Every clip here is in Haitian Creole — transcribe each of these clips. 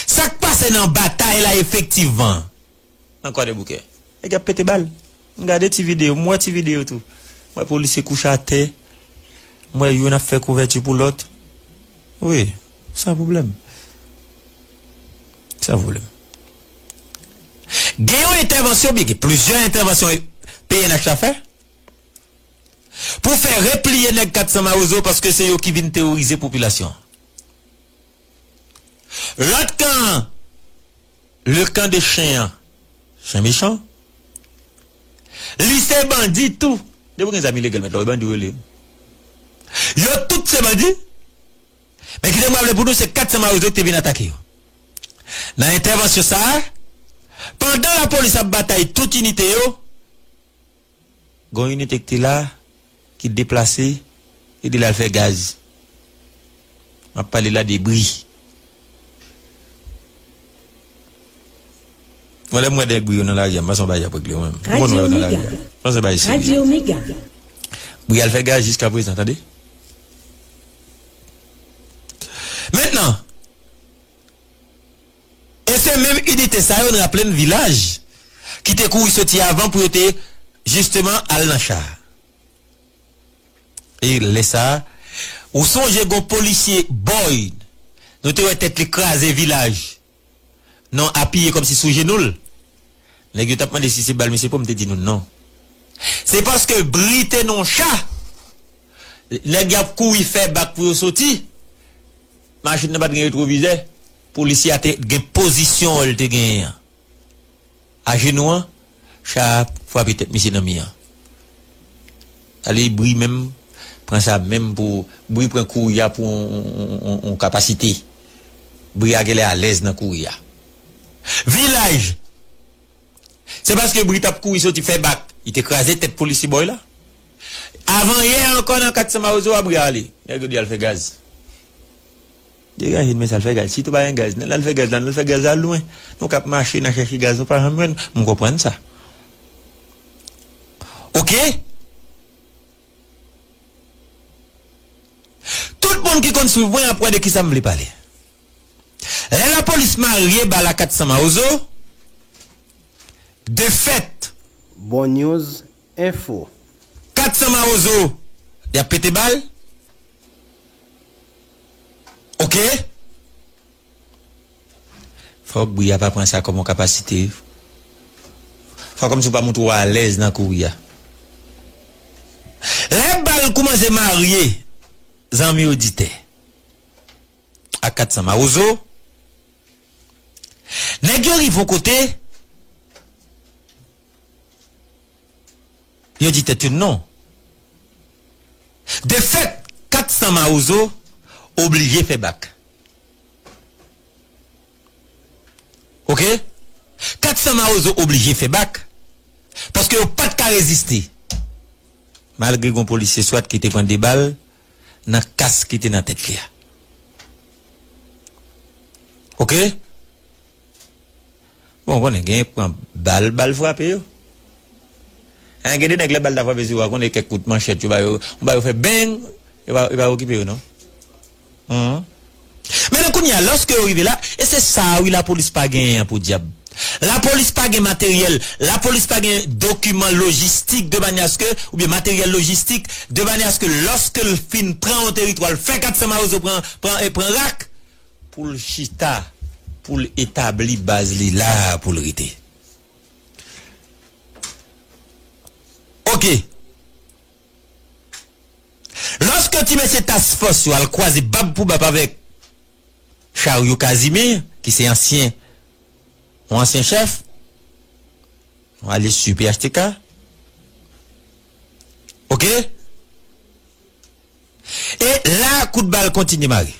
Sak pase nan batay la efektivman nan kwadèboukè nèg yap pete bal m gade ti video m wè ti video tou m wè polisye kouche atè m wè youn ap fè kouvèti pou lòt wi san pwoblèm san pwoblèm. Gen yon entèvansyon byen gen plizyè entèvansyon pnh la fè pou fè repliye nèg 400 mawozo paske se yo ki vin teworize popilasyon an. Lòt kan an, le camp de chen an, chen mechan, li se bandi tou. Depi w gen zam ilegal mèt la, w bandi w rele yo. Yo tout se bandi. Men kite m raple pou nou se 400 mawozo ki te vin atake yo. Nan entèvansyon sa a, pandan lapolis ap batay tout inite yo, Gon inite ki te la ki deplase e li al fè gaz. Map pale la de bri. Mwen lèm wè nèg bri yo nan lari a m panse yon bagay ap regle mwen menm. Tout moun wè yo nan lari a. M panse se bagay serye. Bri al fè gaz jiska prezan tande. Mentnan. E se menm inite sa yo n raple n vilaj ki te kouri soti avan pou yo te jisteman al nan cha a. E lè sa a, ou sonje gon polisye Boyd nou te wè tèt li kraze vilaj non apiye kòmsi sou jenou l? Nèg yo t ap mande si se bal misye pran m te di nou non. Se paske bri te nan w cha, nèg y ap kouri fè bak pou yo soti. Machin nan pat gen retwovizè. Polisye a te gen pozisyon an li te genyen an ajenou an, cha a frape tèt misye nan mi an. Tale bri menm pran sa menm pou bri pran kouri a pou yon kapasite. Bri a genlè alèz nan kouri a. Vilaj! Se paske bri t ap kouri soti fèbak li te kraze tèt polisye bòy la. Avan yè ankò nan 400 mawozo wap rale. Nèg yo di al fè gaz. Degaje n men sal fè gaz. Si tou pa gen gaz nan al fè gaz la nan fè gaz la lwen. Nou kap mache nan chèche gaz nou pa janm jwenn. M konprann sa. Ok. Tout moun ki konn swiv mwen ap wè de kisa m vle pale. Lè la polis marye bal a 400 mawozo. De fèt. Bon news Info. 400 mawozo yap pete bal ok. Fok bri a pa pran sa kom yon kapasite wi. Fwa komsi ou pa montre w alèz nan kouri a. Lè bal koumanse marye zanmi oditè ak 400 mawozo, nèg yo rive yon kote, Yo di tèt yo non. De fèt, 400 mawozo oblije fè bak. Ok. 400 mawozo oblije fè bak paske yo pa t ka reziste malgre gen yon polisye swat ki te pran 2 bal nan kas ki te nan tèt li a. Ok. Bon ou konnen genyen k pran bal, bal frape yo. Hein gen de nèg lè bal ta frape sou yo a konnen kèk kout manchèt yo ba yo, ou ba yo fè beng, yo pa yo pa okipe yo non. Humm. Men nan kounye a lòske yo rive la, e se sa a wi lapolis pa genyen an podyab. Lapolis pa gen materyèl, lapolis pa gen dokiman lojistik de manyè aske, oubyen materyèl lojistik, de manyè aske lòske l fin pran yon teritwa l fè 400 mawozo pran pran e pran rak. pou l chita, pou l etabli baz li la a pou l rete. Ok. Lòske ti mesye task fòs yo al kwaze bab pou bab avèk Chariot Casimir ki se ansyen, yon ansyen chèf, yon alyis su phtk, ok, e la a kout bal kontinye mare.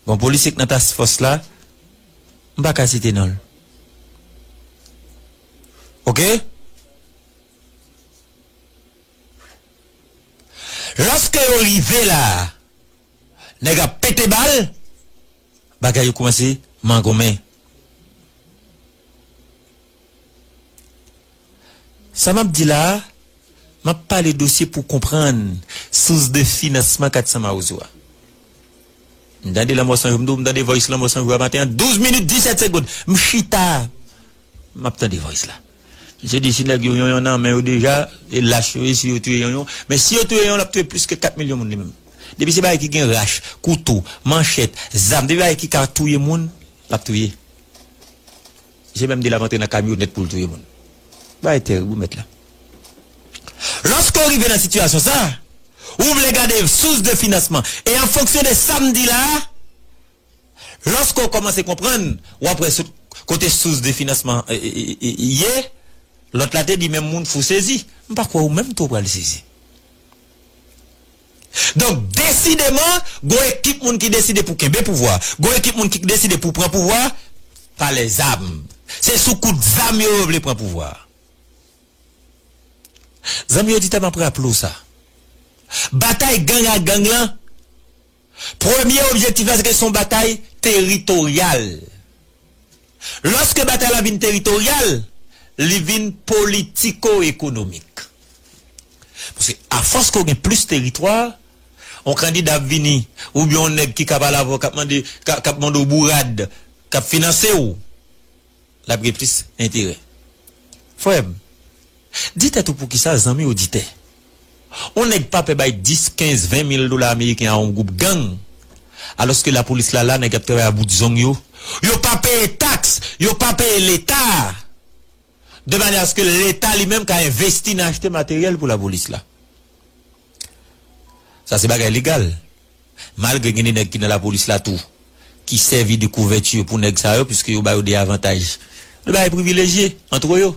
Gon polisye k nan task fòs la, m pa ka site non l. Ok. Lòske yo rive la a, nèg ap pete bal. bagay yo koumanse mangonmen. Sa m ap di la a, m ap pale dosye pou konprann sous de finansman 400 mawozo a. M tande Lanmò San Jou, m di w m tande voice Lanmò San Jou a maten an, 12 minit 17 segond, m chita, m ap tande voice la. Misye di si nèg yo yonyon nan men yo deja, e lach yo ye si yo touye yonyon. Men si yo touye yonyon l ap touye plis ke 4 milyon moun li menm. Depi se bagay ki gen rach, kouto, manchèt, zam, depi bagay ki ka touye moun, l ap touye. Misye menm di l ap antre nan kamyonèt pou l touye moun. Bagay terib wi mèt la. Lòske w rive nan sitiyasyon sa a, ou vle gade sous de finansman. E an fonksyon de sa m di la a. Lòske w kòmanse konprann, w ap wè sou kote sous de finansman ye. Lòt la te di menm moun fou sezi. M pa kwè ou menm tou w pral sezi. Donk, desideman, gon ekip moun ki deside pou kenbe pouvwa. Gon ekip moun ki deside pou pran pouvwa pa lè zam. Se sou kout zam yo yo vle pran pouvwa. Zanmi oditè m ap raple w sa. Batay gang a gang lan. Premye objektif la se ke se yon batay teritoryal. Lòske batay la vin teritoryal, li vin politiko-ekonomik. Paske afòs ke w gen plis teritwa, yon kandida ap vini oubyen yon nèg ki ka pale avè w, k ap mande, k ap mande w bourad, k ap finanse w, l ap gen plis enterè. Frè m, di tèt ou poukisa zanmi oditè, yon nèg pa pè bay 10, 15, 20 mil dola ameriken a yon gwoup gang, alòske lapolis la la, nèg y ap travay a bout zong yo, yo pa peye taks, yo pa peye Leta a, de manyè aske Leta li menm ka envesti nan achte materyèl pou lapolis la. Sa se bagay legal. Malgre gen de nèg ki nan lapolis la tou ki sèvi de kouvèti pou nèg sa yo piske yo ba yo de avantaj. Yo ba yo privilejye antre yo.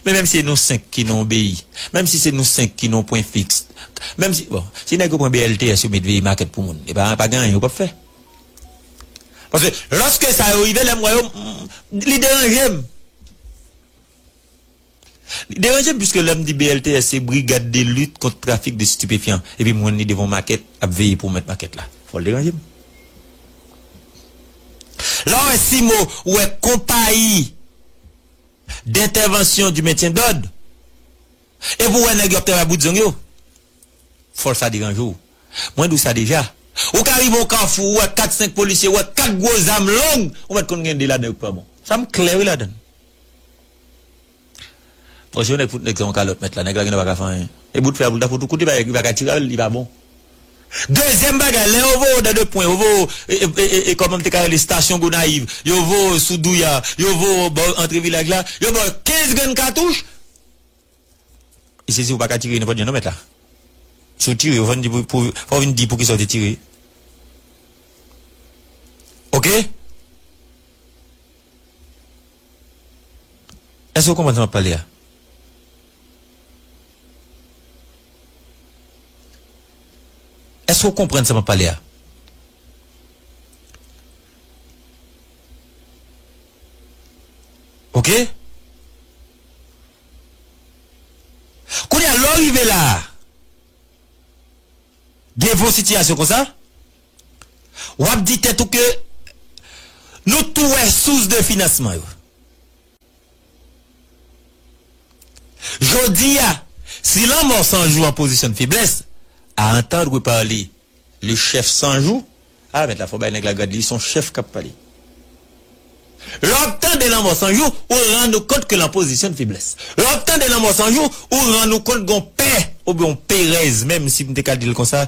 Men menm si se nou senk ki nan yon beyi, menm si se nou senk ki nan yon pwen fiks, menm si, bon, si nèg yo pran BLTS yo met veye makèt pou moun, e pa pa gen anyen yo p ap fè. Paske lòske sa yo rive, lè m wè yo, m, m, li deranje m. Li deranjem pwiske lèm di BLTS se Brigad de Lit Kont Trafik de Stipefyan epi m wèn li devan yon makèt ap veye pou mèt makèt la. Fò l deranje m. Lè w wè CIMO, ou wè Konpayi Dentèvansyon di Mentyen Dòd, epi w wè nèg yo ap travay bout zong yo, fò sa deranje w. Mwen di w sa deja, ou ka rive yon kafou, ou wè kat senk polisye, ou wè kat gwo zam long, ou mèt konn gen de ladan yo k pa bon. Sa m klè wi ladan l. Bon si yon nèg fout nèg sa yon kalòt mèt la nèg la gendwa pa ka fè anyen e bout fè a poul ta fout ou kout li pa li pa ka tire avèl li pa bon dezyèm bagay lè yo voye w dan de pwen yo voye w e kòman m te ka rele stasyon gonayiv yo voye w sou douya yo voye w bò antre vilaj la yo ba w 15 grenn katouch li sezi ou pa ka tire nenpòt jan non mèt la si w tire yo fò n di pou fò w vin di poukisa w te tire ok. Èske ou konprann sa m ap pale a? Èske ou konprann sa m ap pale a? Ok. Kounye a, lè ou rive la a, gen von sitiyasyon konsa. Wap di tèt ou ke Nou tou wè sous de finansman yo. Jodi a, si lanmò san jou an pozisyon de feblès, a entendre parler le chef san jou, ah mèt la fò bay nèg la grad li son chef kap pale. Lè wap tande lanmò san jou, ou rann ou kont ke l an pozisyon de feblès. Lè wap tande lanmò san jou, ou rann ou kont gon pè oubyen yon perèz menm si m te ka di l konsa,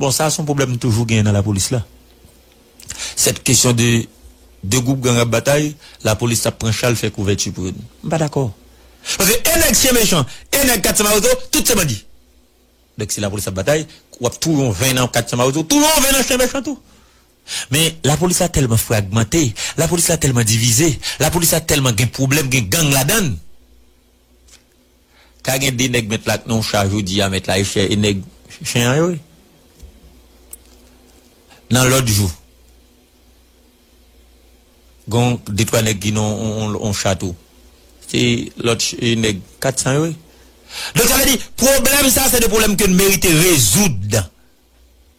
Bon sa son pwoblèm toujou genyen nan lapolis la. Sèt kesyon de 2 gwoup gang ap batay, lapolis tap pran chal fè kouvèti pou yo. M pa dakò. Paske e nèg chyen mechan, e nèg 400 mawozo, tout se bandi. Donk si lapolis ap batay, wap touye yon 20 nan 400 mawozo, touye yon 20 nan chyen mechan tou. Men lapolis la tèlman fragmante, lapolis la tèlman divize, lapolis la tèlman gen pwoblèm, gen gang ladann. Ka gen 2 nèg mèt la ak non cha jodi a mèt la e chè e nèg chen an yo wi. Nan lòt jou, gon de twa nèg ki non on cha tou. Se lòt e nèg 400 yo wi. Donk sa vle di pwoblèm sa se de pwoblèm ke n merite rezoud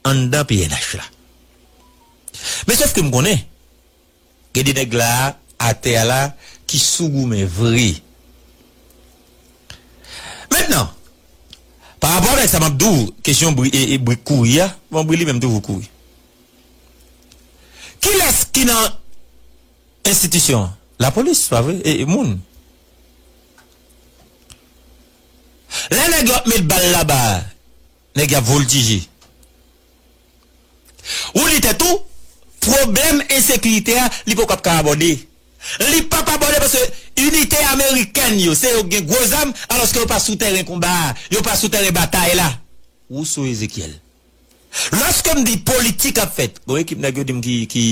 anndan pnh la. Men sof ke m konnen. Gen de nèg la atè a la ki sou goumen vre. Mentnan, pa rapò avèk sa m ap di w, kesyon bri e brik kouri a, bon bri li menm toujou kouri. Kilès ki nan enstitisyon an? Lapolis, se pa vre? E moun? Lè nèg yo ap met bal laba a. Nèg y ap voltije. Ou di tèt ou, pwoblèm ensekirite a, li poko ap ka abòde. Li p ap abòde paske inite amerikèn yo, se yo ki gen gwo zam, alòske yo pa sou tèren konba a, yo pa sou tèren batay la. Rousseau Ezechiel. Lòske m di politik ap fèt, gon ekip nèg yo di m ki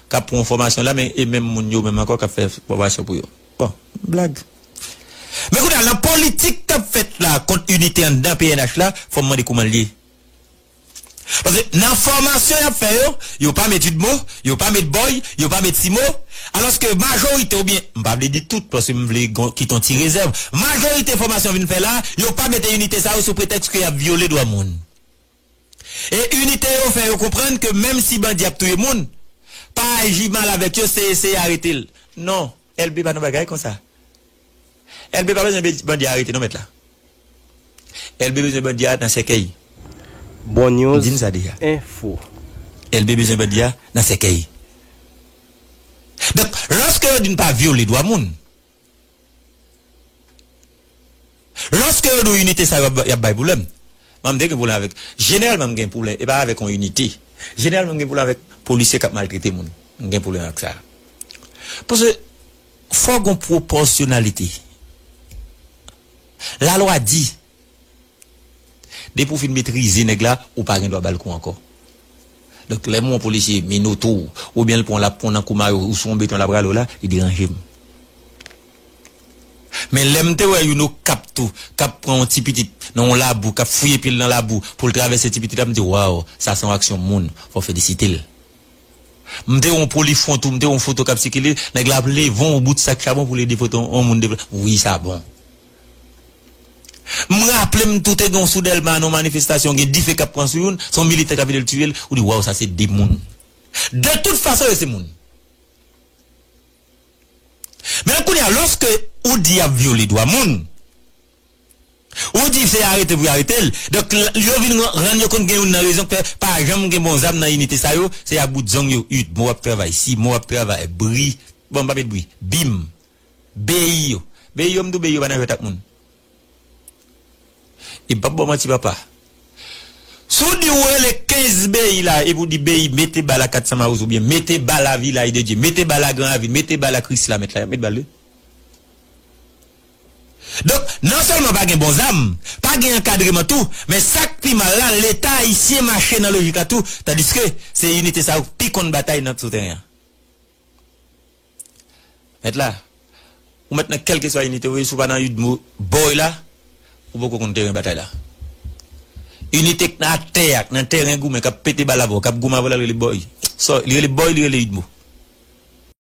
k ap pran fòmasyon la men e menm moun yo menm ankò k ap fè fòmasyon pou yo. Bon blag. Men kounye a lan politik kap fèt la kont inite anndan pnh la fòm mande koumanl ye? Paske nan fòmasyon yap fè yo, yo pa met udmo, yo pa met boy, yo pa met simo, alòske majorite oubyen m pa vle di tout paske m vle gon kite yon ti rezèv, majorite fòmasyon vin fè la, yo pa mete inite sa yo sou pretèks ke yap vyole dwa moun. E inite yo fè yo konprann ke menm si bandi ap touye moun, pa aji mal avèk yo se eseye arete l. Non, Elbe pa nan bagay konsa. Elbe pa bezwen bandi a arete non mèt la. Elbe bezwen bandi a nan sèkèy. Bon News di n sa deja. Info. Elbe bezwen bandi a nan sèkèy. Donk, lòske yo di n pa vyole dwa moun, Loske yo di w inite sa yo yap bay pwoblèm. Mwen mte gen pwoblèm avèk, jeneralman m gen pwoblèm e pa avèk yon inite. Jeneralman m gen pwoblèm avèk polisye kap maltrete moun. M gen pwoblèm ak sa. Paske fò gon pwopòsyonalite. Lalwa di Depi ou fin metrize nèg la, ou pa gen dwa ba l kou ankò. Donk, lè m wè yon polisye minote w, oubyen l pran w l ap pran w nan kou mayo, ou sou yon beton l ap rale w la, li deranje m. Men lè m te wè youn Okap tou, k ap pran yon ti pitit nan yon labou, k ap fouye pye l nan labou pou l travèse ti pitit la, m di waw, sa se yon aksyon moun, fò w felisite l. M te wè yon polifwon tou, m te wè yon foto k ap sikile, nèg la ap leve yon bout sak chabon pou l ede pote yon moun deplase. Wi sa bon. M raple m tou te gen yon sou Dèlma nan yon manifestasyon gen dife k ap pran sou youn, se yon militè k ap vide l tiye l, ou di waw sa se de moun. De tout fason yo se moun. Men kounye a lòske ou di y ap vyole dwa moun, ou di se arete pou yo arete l, donk yo vin rann yo kont gen youn nan rezon k fè pa janm gen bon zam nan inite sa yo, se a bout zong yo, ut, mou ap travay si, mou ap travay bri, bon m pa met bri, bim, Beyi yo Beyi yo m dou Beyi yo pa nan jwèt ak moun e m pap ba w manti papa si w di ou rele 15 Beyi la epi w di Beyi mete bal a 400 Mawozo oubyen mete bal a Vilaj de Dye mete bal a Gran Ravin mete bal a Krisla mèt la y ap met bal wi donk non sèlman pa gen bon zam pa gen ankadreman tou men sa k pi mal la leta ayisyen mache nan lojik la tou tandiske se inite sa yo k pi konn batay nan sou teren an. Mèt la, ou mèt nan kèlkeswa inite ou ye, si w pa nan udmo boy la, ou poko konn teren batay la. Inite k nan atè a, k nan teren goumen, k ap pete bal avè w, k ap goumen avè w la, l rele boy. Sa w, li rele boy, li rele udmo.